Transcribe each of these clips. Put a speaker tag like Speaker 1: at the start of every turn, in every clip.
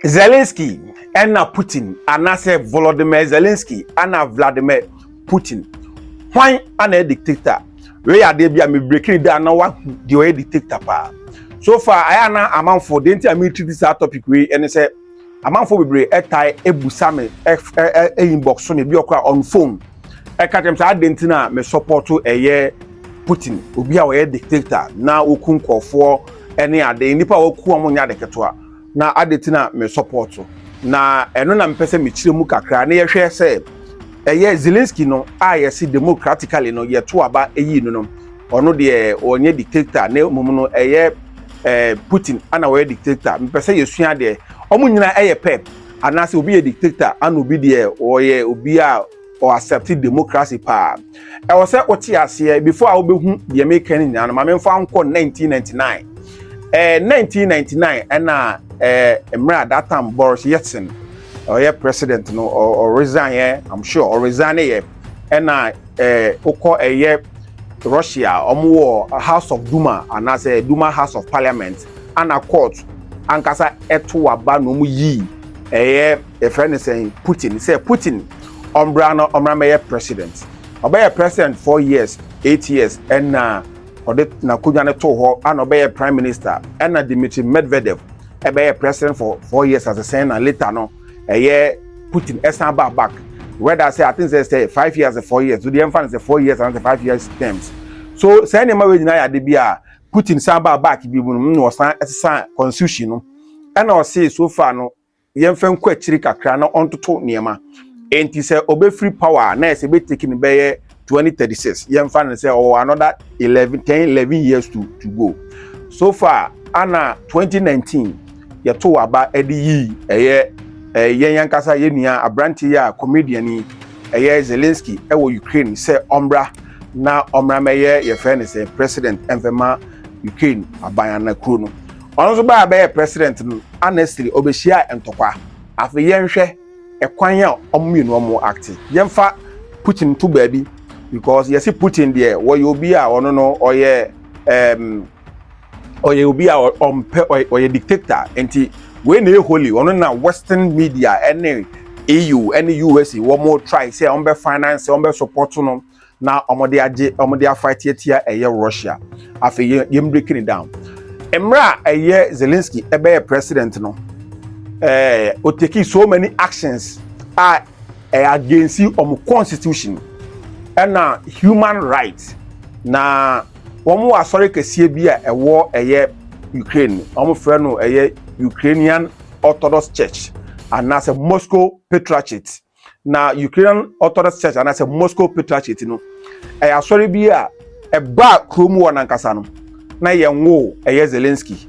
Speaker 1: Zelensky ɛna Putin anaasɛ Volodymyr Zelensky ɛna Vladimir Putin hwan ana yɛ dictator wei yɛ adeɛ bi a mebrekini daa na wahu deɛ ɔyɛ dictator paa so far ayɛ ana amanfo deɛ nti a meretiri saa topic wei ɛne sɛ amanfo bebree ɛtae ebusa me ɛ inbox so me bi ɔkora on phone ɛka kyɛm sɛ adeɛ nti na me support ɛyɛ Putin obi a ɔyɛ dictator na okun kɔfoɔ ɛne ade nnipa a wɔku wɔn nyɛ ade ketewa na ade nti na me support na ɛno na mepɛ sɛ mekyerɛ mu kakra na yɛhwɛ sɛ ɛyɛ Zelensky no a yɛse democratically no yɛto aba ɛyi no no ɔno deɛ ɔnyɛ dictator na mmom no ɛyɛ eh, Putin ana ɔyɛ dictator mepɛ sɛ yɛsua deɛ ɔmo nyinaa ɛyɛ pɛ anaasɛ obi yɛ dictator ana obi deɛ ɔyɛ obi a ɔ accept democracy paa ɛwɔ sɛ wote aseɛ before a wobɛhu deɛ meka no nyinaa no ma memfa nkɔ 1999 eh, 1999 ɛna eh, mmerɛ a that time Boris Yeltsin ɔyɛ president no ɔresign yɛ I'm sure ɔresign yɛ ɛna eh, wokɔ ɛyɛ Russia wɔn wɔ House of Duma anaasɛ Duma House of Parliament ana court ankasa ɛto aba na wɔn yii ɛyɛ yɛfrɛ no sɛn putin sɛ putin ɔmbra no ɔmmra mɛyɛ president ɔbɛyɛ president four years eight years ɛna ɔde n'akonnwa no too hɔ ana ɔbɛyɛ prime minister ɛna dimitri medvedev ɛbɛyɛ president for four years as a sɛn na later no ɛyɛ putin ɛsan ba back whether sɛ i think sɛ sɛ five years sɛ four years so deɛ ɛmfa no sɛ four years and sɛ five years terms so sɛn nneɛma wei nyinaa yɛ ade bi a putin san ba back bi mu no na ɔsan ɛsesa constitution no ɛna ɔsee so far no yɛmfa nkɔ akyiri kakra na ɔntoto nneɛma nti sɛ ɔbɛfiri power a na ɛsɛ bɛtake no bɛyɛ 2036 yɛmfa no sɛ ɔwɔ another 11 10 11 years to, to go so far ana 2019 yɛto aba de yii ɛyɛ yɛn ankasa yɛn nua aberante yi a comedian yi ɛyɛ Zelensky ɛwɔ Ukraine sɛ ɔmmra na ɔmmra mɛyɛ yɛfrɛ no sɛ president ɛmfɛma Ukraine aban anakuro no Ɔno nso baa bɛyɛ president no honestly ɔbɛhyiaa ntɔkwa. Afei yɛnhwɛ ɛkwan a wɔn mmienu wɔn acte. Yɛmfa Putin nto baabi because yɛse Putin deɛ wɔyɛ obi a ɔno no ɔyɛ um, ɔyɛ obi a ɔmpɛ ɔyɛ dictator nti wei na ɛyɛ holy ɔno na western media ɛne EU ɛne USA wɔn try sɛ wɔn bɛ finance wɔn bɛ support no. na wɔde agye wɔde afight atia ɛyɛ Russia afei yɛ yɛn break it down mmerɛ a ɛyɛ Zelensky ɛbɛyɛ president no ɛɛ o take so many actions a ɛyɛ against wɔn constitution ɛna human rights na wɔn wɔ asɔre kɛseɛ bi a ɛwɔ ɛyɛ Ukraine wɔn frɛ no ɛyɛ Ukrainian Orthodox Church anaasɛ Moscow Patriarchate Na Ukrainian Orthodox Church anaasɛ Moscow Patriarchate no, ɛyɛ asɔre bi a ɛbaa kurom wɔ nankasa no, na yɛnwoo ɛyɛ Zelensky.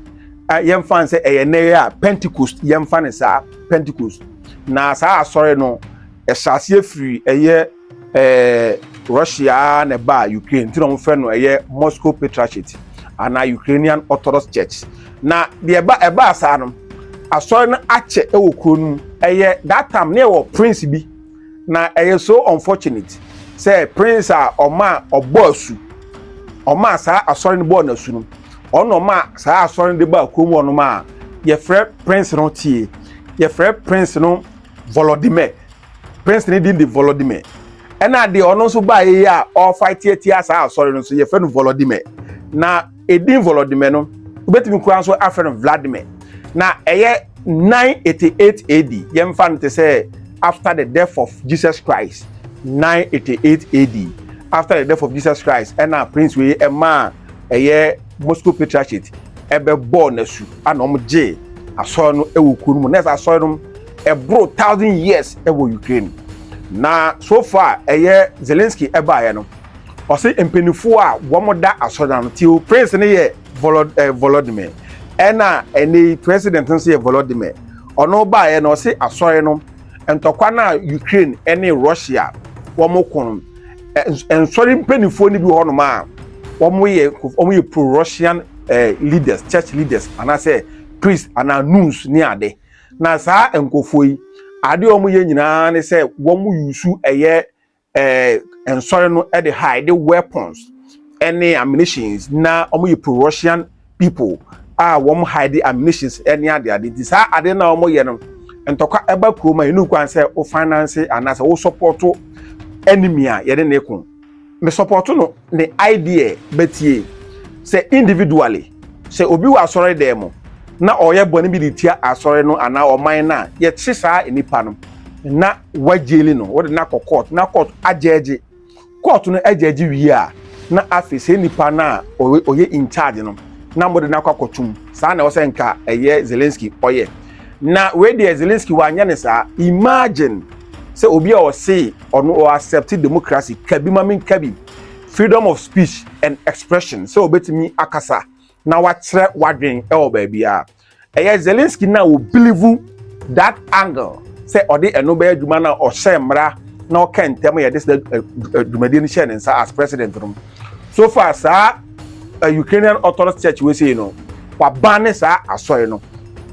Speaker 1: Yɛmfa no sɛ ɛyɛ nnɛ yɛ a Pentecost, yɛmfa no saa Pentecost. Na saa asɔre no, ɛhyɛ aseɛ firi ɛyɛ ɛɛ Russia na ɛbaa Ukraine, nti na wɔfrɛ no ɛyɛ Moscow Patriarchate anaa Ukrainian Orthodox Church. Na deɛ ɛba ɛbaa saa no asɔre no akyɛ wɔ kuro no mu ɛyɛ that time ne ɛwɔ prince bi na ɛyɛ so unfortunate sɛ prince a ɔmaa ɔbɔ asu ɔmaa saa asɔre no bɔɔ n'asu no ɔno ɔmaa saa asɔre no de baa kurom hɔ nom a yɛfrɛ prince no tie yɛfrɛ prince no volodymyr prince no din de volodymyr ɛna deɛ ɔno nso baa yɛ a ɔrefa tiatia saa asɔre no nso yɛfrɛ no volodymyr na edin Volodymyr no, wobetumi koraa nso afrɛ no Vladimir. Na ɛyɛ 988 AD, yɛmfa no te sɛ after the death of Jesus Christ, 988 AD, after the death of Jesus Christ, ɛna prince wei ɛmaa ɛyɛ Moscow Patriarchate ɛbɛbɔɔ n'asu, ana wɔn gyee asɔre no ɛwɔ kuo no mu, na ɛsɛ asɔre no ɛboro thousand years ɛwɔ Ukraine. Na so far ɛyɛ Zelensky ɛbaeɛ no, Ɔse mpaninfoɔ a wɔn da asɔre no ano tio prince no yɛ volodymyr ɛna ɛnɛyi president no nso yɛ volodymyr ɔno baeɛ no ɔse asɔre no ntɔkwa no a Ukraine ɛne Russia wɔn ko no nsɔre mpaninfoɔ no bi wɔ hɔnom a wɔn yɛ wɔn yɛ pro Russian leaders church leaders anaasɛ priest anaa nuns ne ade na saa nkurɔfoɔ yi adeɛ wɔn yɛ nyinaa ne sɛ wɔn yusu ɛyɛ eh, nsɔre no de ha de weapons ne ammunitions na wɔyɛ pro russian people a wɔn hide ammunitions ne ade ade nti saa ade na wɔyɛ no ntɔkwa ɛba kurom a yɛnu kwan sɛ wo finance anaasɛ wo support enemy a yɛde ne ko me support no ne idea bɛtie. Sɛ individually, sɛ obi wɔ asɔre dan mu na ɔyɛ bɔne bi de tia asɔre no anaa ɔman no a, yɛkye saa nipa no na wɔagyeli no, wɔde no akɔ court na court agyɛɛgye. Court no agyɛɛgye wie a, na afei sɛ nipa no a ɔyɛ in charge no na mode no akɔ akɔtum. Saa na ɛwɔ sɛ nka ɛyɛ Zelensky ɔyɛ. Na wei deɛ Zelensky wanyɛ ne saa. Imagine sɛ obi a ɔsee ɔno ɔ accept democracy, ka bi ma me nka bi, freedom of speech and expression, sɛ ɔbɛtumi akasa na wakyerɛ wadwen wɔ baabiara. Ɛyɛ Zelensky no a ɔ believe that angle sɛ ɔde ɛno bɛyɛ adwuma no a ɔhyɛ mmara na ɔka ntɛm yɛde saa dwumadie no hyɛ ne nsa as president no. So far saa Ukrainian Orthodox Church wei sei no waban ne saa asɔre no.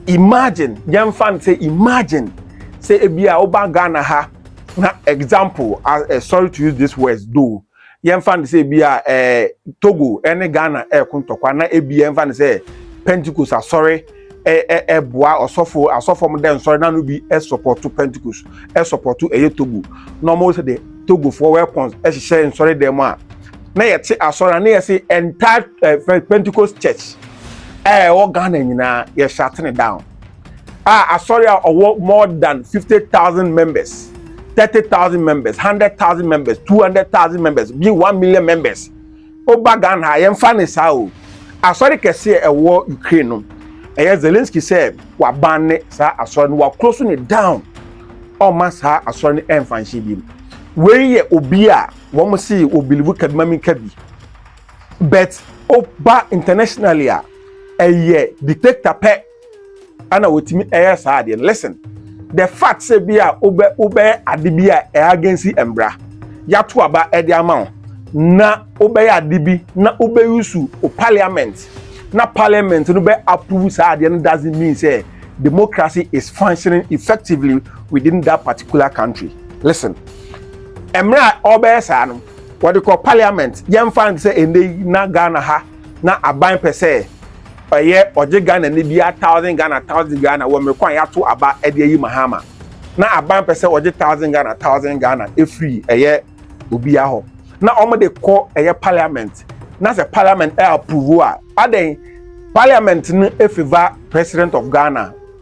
Speaker 1: Imagine, yɛmfa no sɛ imagine sɛ ebi a woba Ghana ha na example ah eh, sorry to use this words though yɛmfa no sɛ ebi a eh, togo ɛne eh, ghana ɛreko eh, ntɔkwa na ebi yɛmfa no sɛ pentecost asɔre ɛboa eh, eh, ɔsɔfo asɔfo mo dɛ nsɔre na no bi ɛsɔpɔto pentecost ɛsɔpɔto ɛyɛ togo na ɔmo sɛ de togofoɔ wɛkɔn ɛhyehyɛ nsɔre dɛm mu a na yɛte asɔre a na yɛse entire eh, pentecost church ɛwɔ ghana nyinaa yɛhyɛ atene down a asɔre a ɔwɔ more than fifty thousand members thirty thousand members hundred thousand members two hundred thousand members bi one million members ɔba ghana a yɛmfa ne saa o asɔre kɛseɛ ɛwɔ ukraine no ɛyɛ zelensky sɛ waban ne saa asɔre no wakoro so ne down ɔma saa asɔre no ɛmfa nhyɛ bi mu wei yɛ obi a wɔn si obilivu kaduma mi kabi but ɔba internationally a ɛyɛ dictator pɛ. ɛna otumi ɛyɛ saa adeɛ no listen the fact sɛ bi a wobɛ wobɛyɛ ade bi a ɛyɛ agensi mbra yato aba ɛde ama wo na wobɛyɛ ade bi na wobɛyusu o parliament na parliament no bɛ approve saa adeɛ no doesn't mean sɛ democracy is functioning effectively within that particular country listen mmerɛ a ɔbɛyɛ saa no wɔde kɔ parliament yɛmfa no sɛ ɛnɛ yi na ghana ha na aban pɛ sɛ ɛyɛ ɔgye Ghana ni biara thousand Ghana thousand Ghana wɔ mmerɛ ko a yɛato aba de ayi Mahama na aban pɛ sɛ ɔgye thousand Ghana thousand Ghana ɛfiri ɛyɛ obiara hɔ na wɔde kɔ ɛyɛ parliament na sɛ parliament ɛ approve a adɛn parliament no ɛfeva president of Ghana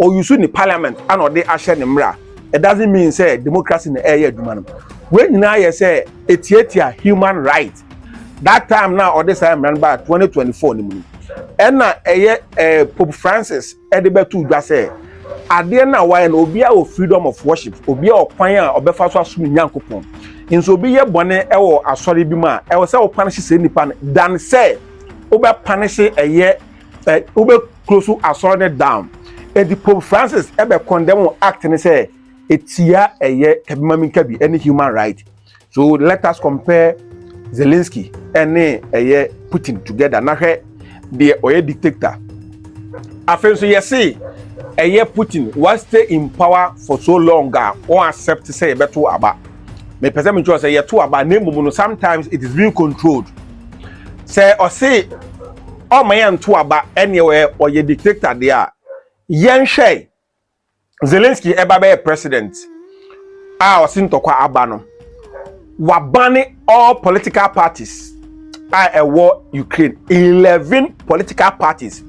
Speaker 1: Ɔ use ne parliament ana ɔde ahyɛ ne mmra it doesn't mean sɛ democracy na ɛreyɛ adwuma no. Wei nyinaa yɛ sɛ ɛtiatia human right. That time no a ɔde saa mmra no baa 2024 no mu no ɛna ɛyɛ eh, Pope Francis ɛde bɛtoo dwa sɛ adeɛ no a wayɛ no obiara wɔ freedom of worship, obiara wɔ kwan a ɔbɛfa so asom ne Nyankopɔn. Nso obi yɛ bɔne ɛwɔ asɔre bi mu a ɛwɔ sɛ wo panish saa nipa no than sɛ wobɛ panish ɛyɛ ɛ wobɛ close asɔre no down eti pope francis ɛbɛ condemn act no sɛ etia ɛyɛ kabimaminkabi ɛne human right so let us compare zelensky ɛne ɛyɛ putin together na hwɛ deɛ ɔyɛ dictator afei nso yɛse ɛyɛ putin wa stay in power for so long a wɔn accept sɛ yɛbɛto aba mepɛ sɛ mekyerɛ sɛ yɛto aba na mmom no sometimes it is being controlled sɛ ɔse ɔma yɛn nto aba ɛneɛ ɔyɛ ɔyɛ dictator deɛ a yɛnhwɛ Zelensky ɛba bɛyɛ president a ɔse ntɔkwa aba no wabane all political parties a ɛwɔ Ukraine eleven political parties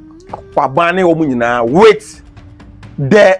Speaker 1: wabane wɔn nyinaa with the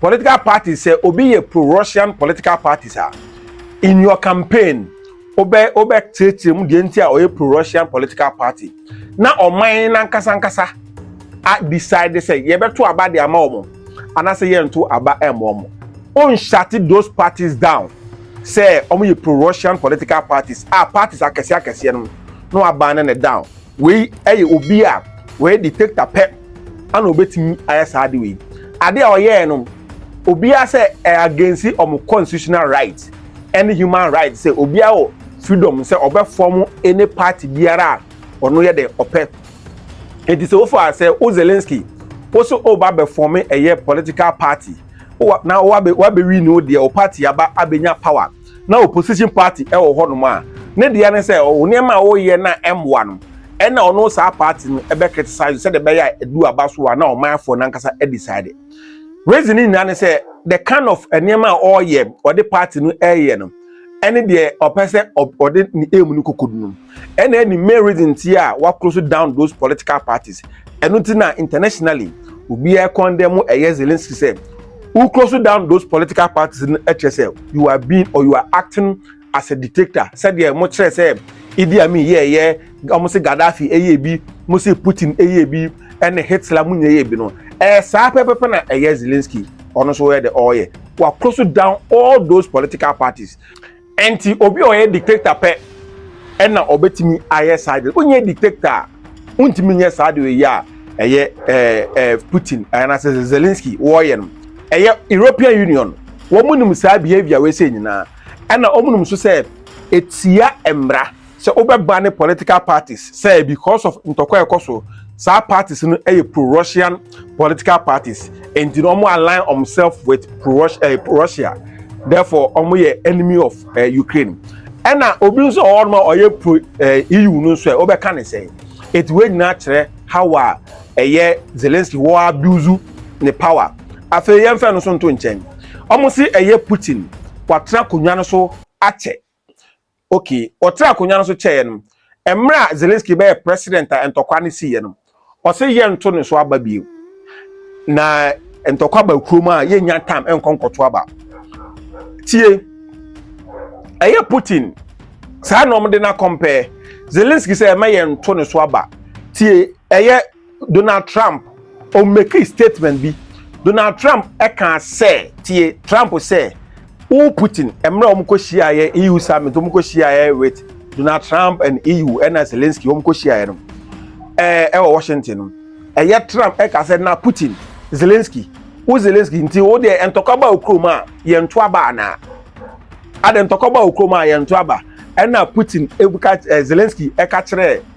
Speaker 1: Political parties, sɛ obi yɛ pro-Russian political parties a, in your campaign, wobɛ wobɛkyerɛkyerɛ mu deɛ nti a ɔyɛ pro-Russian political party. Na ɔman n'ankasa ankasa a decide sɛ yɛbɛto aba de ama wɔn anaasɛ yɛnto aba ɛmma wɔn. Wonhyate those parties down sɛ wɔn yɛ pro-Russian political parties a parties akɛseɛ akɛseɛ no na waban ne down. Wei ɛyɛ obi a wɔyɛ dictator pɛ. ana obetumi ayɛ saa ade wei ade a ɔyɛɛ no obiara sɛ ɛyɛ against wɔn constitutional right ɛne human right sɛ obiara wɔ freedom sɛ ɔbɛfɔm any party biara a ɔno yɛ dɛ ɔpɛ eti sɛ wofa sɛ o Zelensky woso o ba bɛfɔm ɛyɛ political party na wabɛ wabɛwi ne o deɛ o party aba abɛnya power. na opposition party wɔ hɔnom a, ne dea ne sɛ ɔwo nneɛma a woyɛ no a ɛmmoa no, ɛna ɔno saa party no bɛ criticise sɛdeɛ ɛbɛyɛ a ɛdu aba so a na ɔmanfoɔ no ankasa decide. Reason ne nyinaa ne sɛ the kind of nneɛma a ɔyɛ, ɔde party no ɛyɛ no, ɛne deɛ ɔpɛ sɛ ɔde ne aim no kɔkɔdu no. ɛna ɛne main reason nti a wa close down those political parties ɛno nti na internationally obiara condemn ɛyɛ Zelensky sɛ who close down those political parties no ɛkyerɛ sɛ you are being or you are acting as a dictator sɛdeɛ mo kyerɛ sɛ Idi Amin yɛ ɛyɛ wɔn se Gaddafi ɛyɛ bi mo se Putin ɛyɛ bi ɛne Hitler mo nyɛ ɛyɛ bi no ɛyɛ saa pɛpɛpɛ na ɛyɛ Zelensky ɔno nso ɔyɛ de ɔyɛ wa close down all those political parties. Ɛnti obi a ɔyɛ dictator pɛ ɛna ɔbɛtumi ayɛ saa deɛ wonyɛ dictator a wontumi nyɛ saa deɛ ɔyɛ a ɛyɛ ɛɛ ɛɛ Putin anaasɛ Zelensky wɔɔyɛ no ɛyɛ European Union wɔn nim saa behavior wei sɛ nyinaa ɛna wɔn nim nso sɛ etia mmara sɛ wobɛba ne political parties sɛ because of ntɔkwa a ɛkɔ so saa parties no yɛ pro-Russian political parties nti no wɔn align themselves with eh, pro-Russia therefore wɔn yɛ enemy of eh, Ukraine ɛna obi nso wɔ hɔnom a ɔyɛ pro eh, EU no nso ɛ wobɛka ne sɛn eti wei nyinaa kyerɛ how a ɛyɛ Zelensky wɔ abuse ne power afei yɛmfɛ no so nto nkyɛn wɔn si ɛyɛ Putin watra akonnwa no so akyɛ Okay, ɔtraa akonnwa no so kyɛeɛ no, mmerɛ a Zelensky bɛyɛɛ president a ntɔkwa no siiɛ no, ɔse yɛnto ne so aba bio. Na ntɔkwa ba kurom a yɛnnya tam nkɔ nkɔto aba. Tie, ɛyɛ Putin saa na wɔde no akɔmpɛ Zelensky sɛ ɛmɛ yɛnto ne so aba. Tie, ɛyɛ. Donald Trump ɔmekii statement bi. Donald Trump ɛkaa sɛ, tie Trump sɛ, wo Putin mmerɛ wɔn kɔ hyiaeɛ EU summit wɔn kɔ hyiaeɛ with Donald Trump and EU ɛna Zelensky wɔn kɔ hyiaeɛ no ɛɛ ɛwɔ Washington no ɛyɛ Trump ɛka sɛ na Putin Zelensky wo Zelensky nti wo deɛ ntɔkwa ba wo kurom a yɛn nto aba anaa adɛ ntɔkwa ba wo kurom a yɛn nto aba ɛna Putin ɛka ɛɛ Zelensky ɛka kyerɛ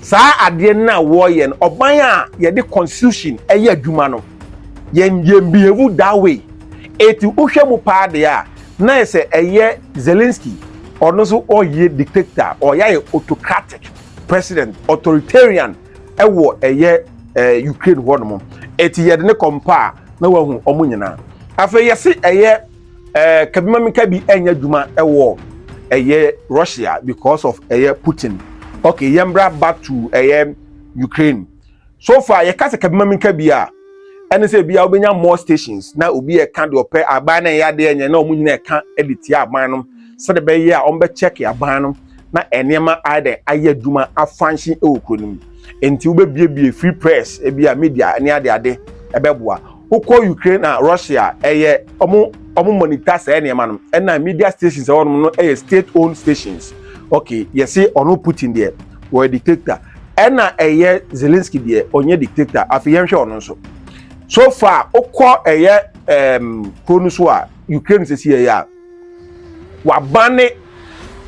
Speaker 1: Saa adeɛ no a wɔyɛ no, ɔman a yɛde constitution ɛyɛ adwuma no, yɛn yɛn behave that way. Eti wohwɛ mu paa deɛ a, na yɛ sɛ ɛyɛ Zelensky, ɔno nso ɔyɛ dictator, ɔyɛ ayɛ autocratic president, authoritarian ɛwɔ ɛyɛ ɛɛ Ukraine hɔ nom. Eti yɛde ne compare na wahu wɔn nyinaa. Afei yɛsi ɛyɛ. Eh, kabi ma meka bi ɛnyɛ adwuma ɛwɔ ɛyɛ Russia because of ɛyɛ Putin. Okay, yɛn bra back to ɛyɛ Ukraine. So far yɛka sɛ kabi ma meka bi a ɛne sɛ ebi a wobɛnya more stations na obi ɛka deɛ ɔpɛ aban na ɛyɛ adeɛ nyɛ na wɔn nyinaa ɛka ɛde tia aban no sɛde bɛyɛ a wɔn bɛkyɛke aban no na nneɛma ayɛ dɛ ayɛ adwuma afanhye ɛwɔ kuro no mu. Nti wobɛbiebie free press ebi a media ne ade ade ɛbɛboa. wokɔ ukraine a russia ɛyɛ ɔmo ɔmo monitor saa nneɛma no ɛna media stations ɛwɔ nom no ɛyɛ state owned stations okay yɛse ɔno putin deɛ wɔyɛ dictator ɛna ɛyɛ zelensky deɛ ɔnyɛ dictator afei yɛnhwɛ ɔno nso so far wokɔ ɛyɛ ɛɛm kuro no so a ukraine sisi ɛyɛ a wabane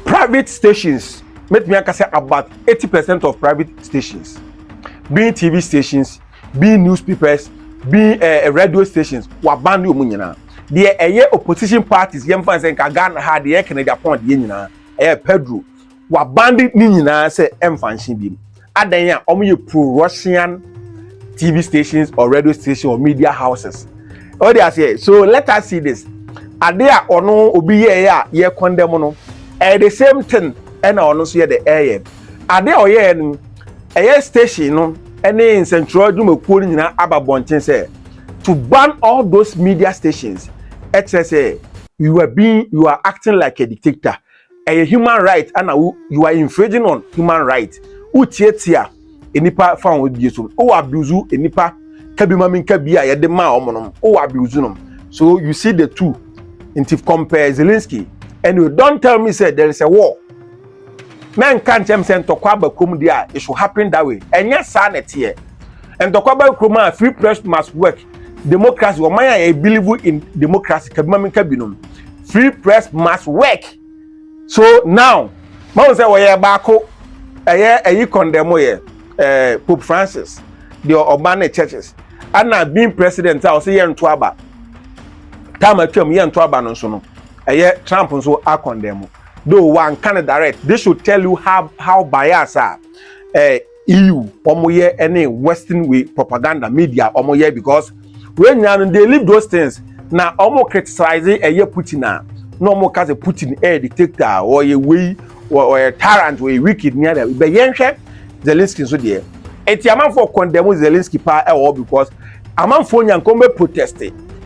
Speaker 1: private stations mɛtumi aka sɛ about eighty percent of private stations being tv stations being newspapers being uh, radio stations waban ne ɔmu nyinaa deɛ ɛyɛ opposition parties yɛn fan sɛ nka ghana ha deɛ ɛkɛnɛ eh, japan deɛ nyinaa ɛyɛ eh, pedro waban de ne nyinaa sɛ ɛnfa nhyɛn bi mu adan a wɔn yɛ pro russian tv stations or radio stations or media houses ɔwɔ de aseɛ so let us see this ade a ɔno obi yɛɛyɛ a yɛ condemn no ɛyɛ eh, the same thing ɛna ɔno nso yɛ de ɛyɛ. Ade a ɔyɛeɛ no, ɛyɛ station no ne nsɛntwerɛ adwumakuo no nyinaa aba bɔnten sɛ, to ban all those media stations, ɛkyerɛ sɛ you are being, you are acting like a dictator, ɛyɛ human right ana wo, you are infringing on human right, wotiatia nnipa fa wɔn bie so, wowɔ abuse nnipa ka bi ma menka bi a yɛde maa wɔn no, wowɔ abuse nom. So you see the two, nti compare Zelensky, anyway don't tell me sɛ there is a war. Mɛnka nkyerɛ me sɛ ntɔkwa aba kurom deɛ a, it should happen that way. Ɛnyɛ saa na ɛteɛ. Ntɔkwa aba kurom a, free press must work. Democracy, ɔman a yɛ believe in democracy, kabima mi nka binom. Free press must work. So now, mahu sɛ wɔyɛ baako, ɛyɛ ɛyi condemn yɛ, eh, Pope Francis, deɛ ɔba ne churches. Ana being president a ɔsɛ yɛ nto aba. Time atwam yɛ nto aba no nso no, ɛyɛ Trump nso akɔndɛm. though wanka no direct this should tell you how how bias a eh, EU wɔn yɛ ɛne western way propaganda media wɔn yɛ because wɔn nyinaa no they live those things na wɔn criticize ɛyɛ eh, Putin a na wɔn ka sɛ Putin ɛyɛ eh, dictator ɔyɛ wei ɔyɛ tyrant ɔyɛ wicked ne ada bɛ yɛn hwɛ Zelensky nso deɛ eti amanfoɔ condemn Zelensky paa ɛwɔ because amanfoɔ nyankɔn bɛ protest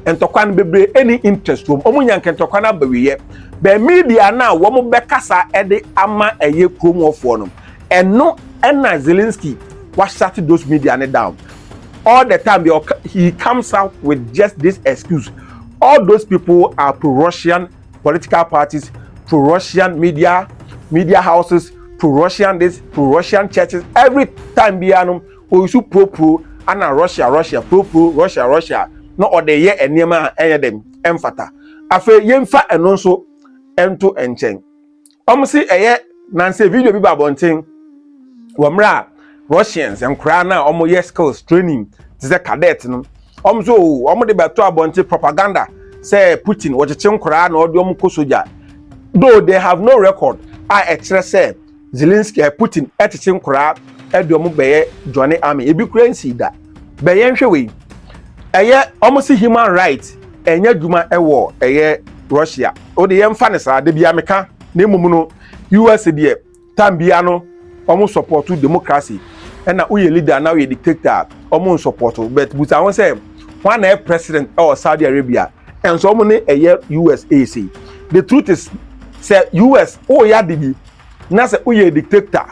Speaker 1: ntɔkwa no bebree ɛni interest wɔm wɔn nyankɛ ntɔkwa no abawiyɛ. Bɛ media no a wɔbɛkasa de ama ɛyɛ kurom hɔfoɔ no, ɛno na Zelensky wa shut those media no down. All the time bia ɔka, he comes out with just this excuse. All those people are pro-Russian political parties, pro-Russian media, media houses, pro-Russian this, pro-Russian churches. Every time bia no, ɔyisu pro-pro, ana Russia, Russia, pro-pro, Russia, Russia, na ɔde yɛ nneɛma a ɛnyɛ dɛm. ɛmfata afei yɛmfa ɛno nso ɛnto nkyɛn wɔn se ɛyɛ nanse video bi ba abɔnten wɔ mmerɛ a russians nkoraa no a wɔn yɛ skills training te sɛ cadet no wɔn nso wɔn de bɛto abɔnten propaganda sɛ putin wɔkyekye nkoraa na wɔde wɔn kɔ sogya though they have no record a ɛkyerɛ sɛ Zelensky ɛ Putin ɛtete nkoraa ɛde ɔmo bɛyɛ joine army ebi koraa nsii da bɛ yɛ nhwɛ wei ɛyɛ ɔmo se human right ɛnyɛ adwuma ɛwɔ ɛyɛ Russia ode yɛ nfa ne saa dabia meka na mmom no US deɛ time bia no ɔmo support democracy ɛna woyɛ leader na woyɛ dictator a ɔmo nsupport but busa ho sɛ hwan na ɛ president ɛwɔ Saudi Arabia ɛnso ɔmo ne ɛyɛ US ɛsei the truth is sɛ US woyɛ ade bi na sɛ woyɛ dictator,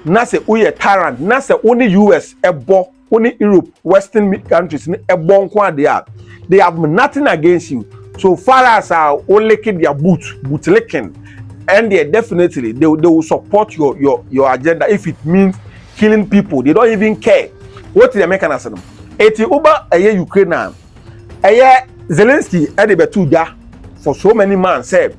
Speaker 1: na sɛ woyɛ tyrant, na sɛ wo ne US ɛbɔ, wo ne Europe, western countries no ɛbɔ nko adeɛ a, they have nothing against you. So far as a wo like their boot, boot licking, and they definitely they, they will support your, your, your agenda if it means killing people. They don't even care. What did American say? Eti uba eye Ukraine ɛyɛ Zelensky de bɛto dwa for so many months sɛ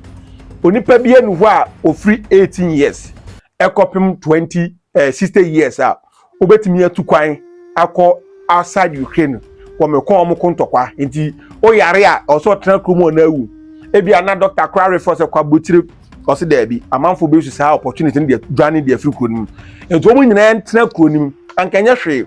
Speaker 1: onipa bi anu hɔ a ofiri 18 years ɛkɔpem 20 eh, 60 years a wobɛtumi atu kwan akɔ outside Ukraine wɔmekɔ wɔn ko ntɔkwa nti woyare a ɔsɛ ɔtena kurom ɔna awu ebi ana dɔkta kora refɔ sɛ kɔ abotire ɔsɛ daabi amanfo bi su saa opportunity no deɛ dwane deɛ afiri kuro no mu nti wɔn nyinaa ntena kuro no mu ankanyɛ hwee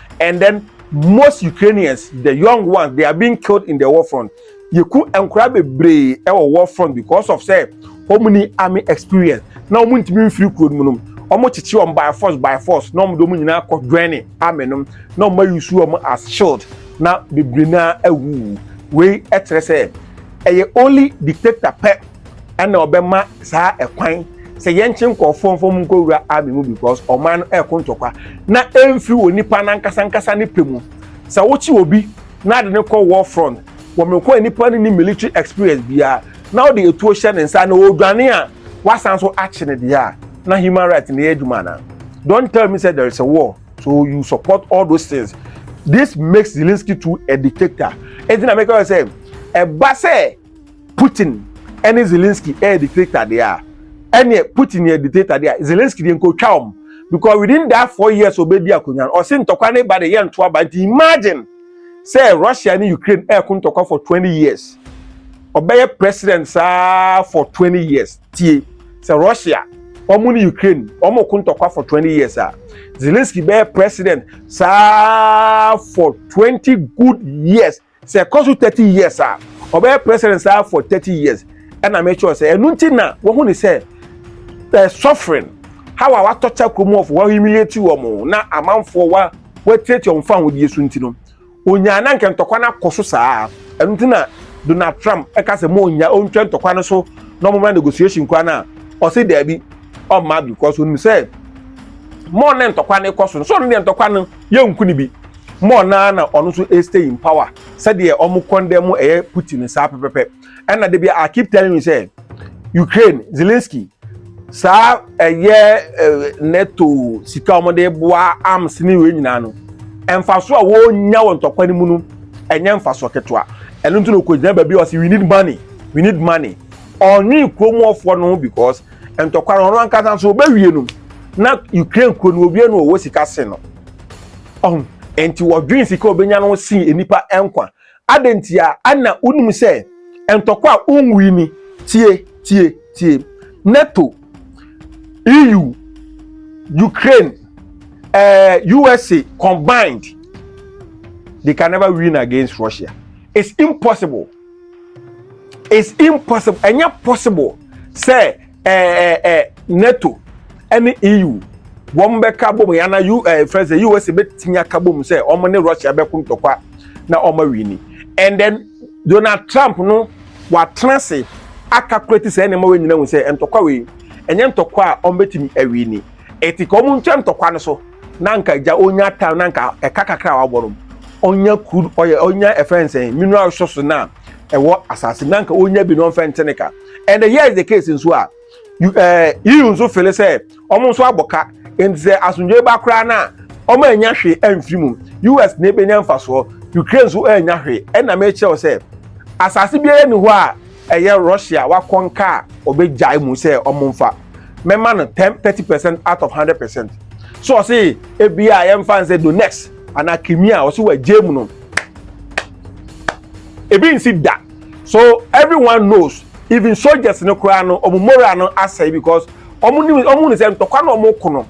Speaker 1: and then most ukrainians the young ones they are being killed in the war front yɛku nkora bebree ɛwɔ war front because of sɛ wɔn ni army experience na wɔn ntumi mfiri kuro no mu no wɔn kyekye wɔn by force by force na wɔn de wɔn nyinaa kɔ dwɛne army no na wɔn ayi su wɔn as shield na bebree naa awu wei ɛkyerɛ sɛ ɛyɛ only dictator pɛ ɛna ɔbɛma saa ɛkwan sɛ yɛnkye nkurɔfoɔ mfa mu nkɔwura army mu because ɔman no ɛreko ntɔkwa na ɛmfiri wɔ nipa no ankasa ankasa ne pɛ mu sɛ wokye obi na ade no kɔ war front wɔ mekɔ a nipa no ni military experience biara na wode etuo hyɛ ne nsa na ɔredwane a wasan so akye ne deɛ a na human rights na ɛyɛ adwuma anaa don't tell me sɛ there is a war so you support all those things this makes Zelensky to a dictator ɛnti na meka sɛ ɛba sɛ Putin ne Zelensky yɛ dictator deɛ a ɛneɛ Putin yɛ dictator deɛ a Zelensky deɛ nkotwa wɔn because within that four years obedi akonnwa no ɔse ntɔkwa ne ba de yɛ nto aba nti imagine sɛ Russia ne Ukraine ɛko ntɔkwa for twenty years ɔbɛyɛ president saa for twenty years tie sɛ Russia wɔn ne Ukraine wɔn ko ntɔkwa for twenty years a Zelensky bɛyɛ president saa for twenty good years Sɛ ɛkɔ so thirty years a, ɔbɛyɛ president saa for thirty years. Ɛna me kyerɛw sɛ ɛno nti na wɔhu ne sɛ eh, suffering how a watɔ kyɛ kurom wɔfo wa humiliate wɔn na amanfoɔ wa wɔatiatia wɔn fa ahodeɛ so nti no onyaa na nka ntɔkwa no akɔ so saa ɛno nti na Donald Trump ɛka sɛ mo onya ontwa ntɔkwa no so na ɔmo mra negotiation kora no a ɔse daabi ɔmma because onim sɛ mo ne ntɔkwa no kɔ so no so ɔno deɛ ntɔkwa no yɛnku no bi ma ɔno ara na ɔno nso ɛstay in power sɛdeɛ ɔmo kɔndɛ mu ɛyɛ Putin saa pɛpɛpɛ ɛna dabi I keep telling you sɛ Ukraine Zelensky saa ɛyɛ NATO sika ɔmo de boa arms ne wei nyinaa no mfaso a wɔnya wɔ ntɔkwa no mu no ɛnyɛ mfaso ketewa ɛno nti na ɔkɔgyina baabi a ɔsi we need money we need money ɔnwe kurom ɔfoɔ no because ntɔkwa no ɔno ankasa nso ɔbɛwie no na ukraine kuro no owie no ɔwɔ sika se no ɔho nti wɔdwen sika ɔbɛnya no sen nnipa nkwa adɛ nti a ana wonim sɛ ntɔkwa a wonwui ni tie tie tie nato eu ukraine uh, eh, usa combined they can never win against russia it's impossible it's impossible ɛnyɛ possible sɛ ɛɛ eh, ɛɛ eh, nato ɛne eu wɔn bɛka bom yɛn ana u ɛɛ fɛn sɛ usa bɛtumi aka bom sɛ wɔn ne russia bɛko ntɔkwa na wɔn awi ni and then donald trump no watena ase aka kura ti sɛ ɛna ɛma wɔn nyinaa hu sɛ ntɔkwa wei ɛnyɛ ntɔkwa a wɔn bɛtumi awi ni ɛti ka wɔn ntwa ntɔkwa no so. na anka gya onya time na anka ɛka kakra a wabɔ no onya crude oil onya ɛfɛn sɛn mineral resources na ɛwɔ asase na anka onya bi na ɔnfɛn ntene ka and here is the case nso a ɛɛ yiyi nso fele sɛ wɔn nso abɔ ka nti sɛ asomdwe ba koraa na wɔn anya hwee ɛnfiri mu us na ebenya nfasoɔ ukraine nso ɛnya hwee ɛna mɛkyerɛw sɛ asase biara ni hɔ a. ɛyɛ Russia a wakɔ nka a ɔbɛgyae mu sɛ ɔmo mfa. Mɛma no ten thirty percent out of hundred percent. So ɔse ebia yɛmfa nsɛ Donetsk anaa Crimea a ɔse wagyae mu no ebi nsi da. So everyone knows even soldiers no koraa no ɔmo moral no asɛe because ɔmo nim ɔmo hu no sɛ ntɔkwa na ɔmo ko no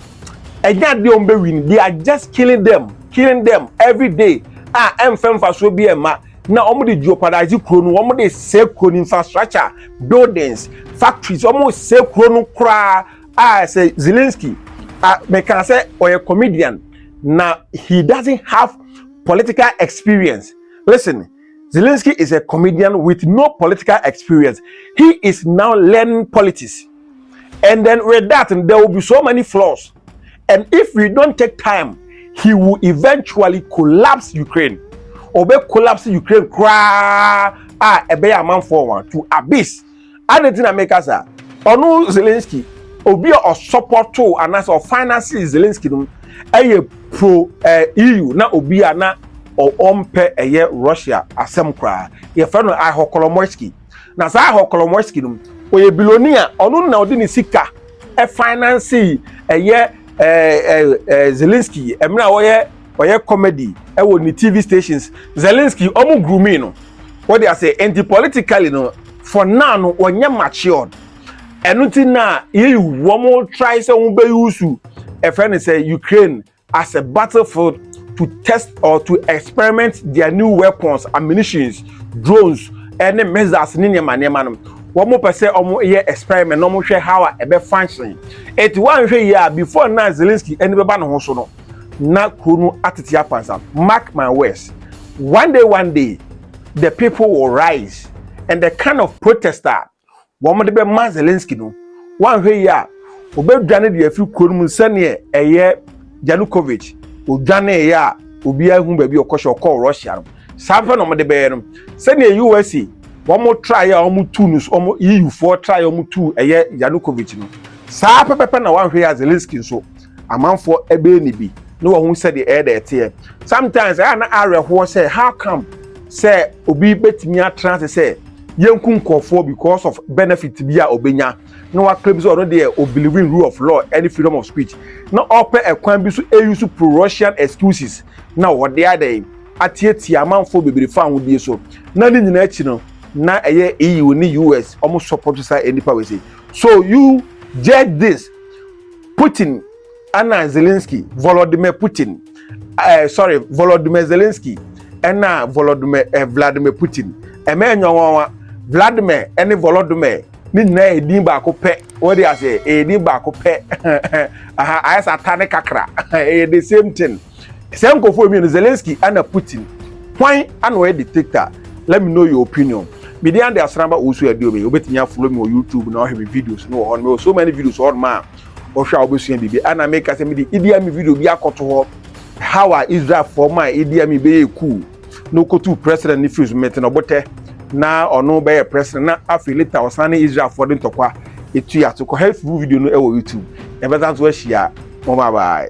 Speaker 1: ɛnyɛ adeɛ ɔmo bɛ win they are just killing them killing them every day a ɛmfɛ mfasoɔ bi ɛmma na wɔn de jeopardize kuro no wɔn de sɛ kuro no infrastructure buildings factories wɔn sɛ kuro no koraa a sɛ Zelensky a mɛka sɛ ɔyɛ comedian na he doesn't have political experience listen Zelensky is a comedian with no political experience he is now learning politics. And then with that, there will be so many flaws. And if we don't take time, he will eventually collapse Ukraine. Obe collapse Ukraine cry ah ebe a man for one to abyss. And the thing I make us Ono Zelensky, obi a support to and as a finance Zelensky no, a pro eh, EU na obi a na ɔmpɛ ɛyɛ Russia asɛm koraa. Yɛfrɛ no Ihokolomoisky. na saa hɔ Kolomoisky no ɔyɛ biloni a ɔno na ɔde ne sika ɛfinansi ɛyɛ ɛɛ ɛɛ Zelensky ɛmɛ a ɔyɛ ɔyɛ comedy ɛwɔ ne TV stations Zelensky ɔmo grooming no wɔde ase nti politically no for now no wɔnyɛ matured ɛno ti na yɛyi wɔn try sɛ wɔn bɛ yusu ɛfɛ ne sɛ Ukraine as a battlefield to test or to experiment their new weapons ammunitions drones ɛne eh, missiles ne nneɛma nneɛma no wɔn pɛ sɛ wɔn yɛ experiment na wɔn hwɛ how a ɛbɛ function eti wɔn ahwɛ yie a before na Zelensky ɛni bɛba ne ho so no na kuro no atete apansa mark my words one day one day the people will rise and the kind of protester wɔn de bɛma zelensky no wanhwɛ yi a obedwane de afiri kuro no mu sɛdeɛ ɛyɛ janukovic odwaneeɛ a obiara hu baabi ɔkɔhyɛ ɔkɔɔ russia no saa pɛ na wɔn de bɛyɛ no sɛdeɛ usa wɔn traeɛ a wɔn tu no wɔn eu foɔ traeɛ a wɔn tu ɛyɛ janukovic no saa pɛpɛpɛ na wanhwɛ yi a zelensky nso amanfoɔ ɛbɛyɛ ne bi na wɔn ho sɛdeɛ ɛyɛ dɛ ɛteɛ sometimes ɛyɛ na awerɛhoɔ sɛ how come sɛ obi bɛtumi atena ase sɛ yɛnku nkurɔfoɔ because of benefit bi a ɔbɛnya na waklaim sɛ ɔno deɛ ɔbelieve in rule of law ɛne freedom of speech na ɔpɛ ɛkwan bi so ɛyi so pro-russian excuses na ɔde adɛn atiatia amanfoɔ bebree fa ahodie so na ne nyinaa akyi no na ɛyɛ EU ne US wɔn support saa nnipa wɔ se so you judge this Putin ɛna Zelensky Volodymyr Putin ɛɛ eh, sorry Volodymyr Zelensky ɛna Volodymyr ɛɛ eh, Vladimir Putin ɛmɛ nyɔnwanwa Vladimir ɛne Volodymyr ne nyinaa yɛ din baako pɛ wɔde ase ɛyɛ din baako pɛ aha ayɛ sɛ ata ne kakra ɛyɛ the same thing. Sɛ nkɔfoɔ mmienu Zelensky ana Putin hwan ana ɔyɛ dictator let me know your opinion me de ande asramba ɔwusu ɛde omi obetumi afolo mi wɔ YouTube na ɔhwɛ mi videos no wɔ hɔ no so many videos hɔ no ma ɔhwɛ a ɔbɛsua biribi ana mi kasa mi de idi ami video bi akɔto hɔ how a Israel fɔ ma idi ami bɛyɛ cool na ɔkɔtu president ne firi so mete no botɛ na ɔno bɛyɛ president na afei later ɔsan ne Israel fɔ de ntɔkwa etu yɛ ato kɔ hɛ video no ɛwɔ YouTube ɛbɛsan so ahyia mo bye bye.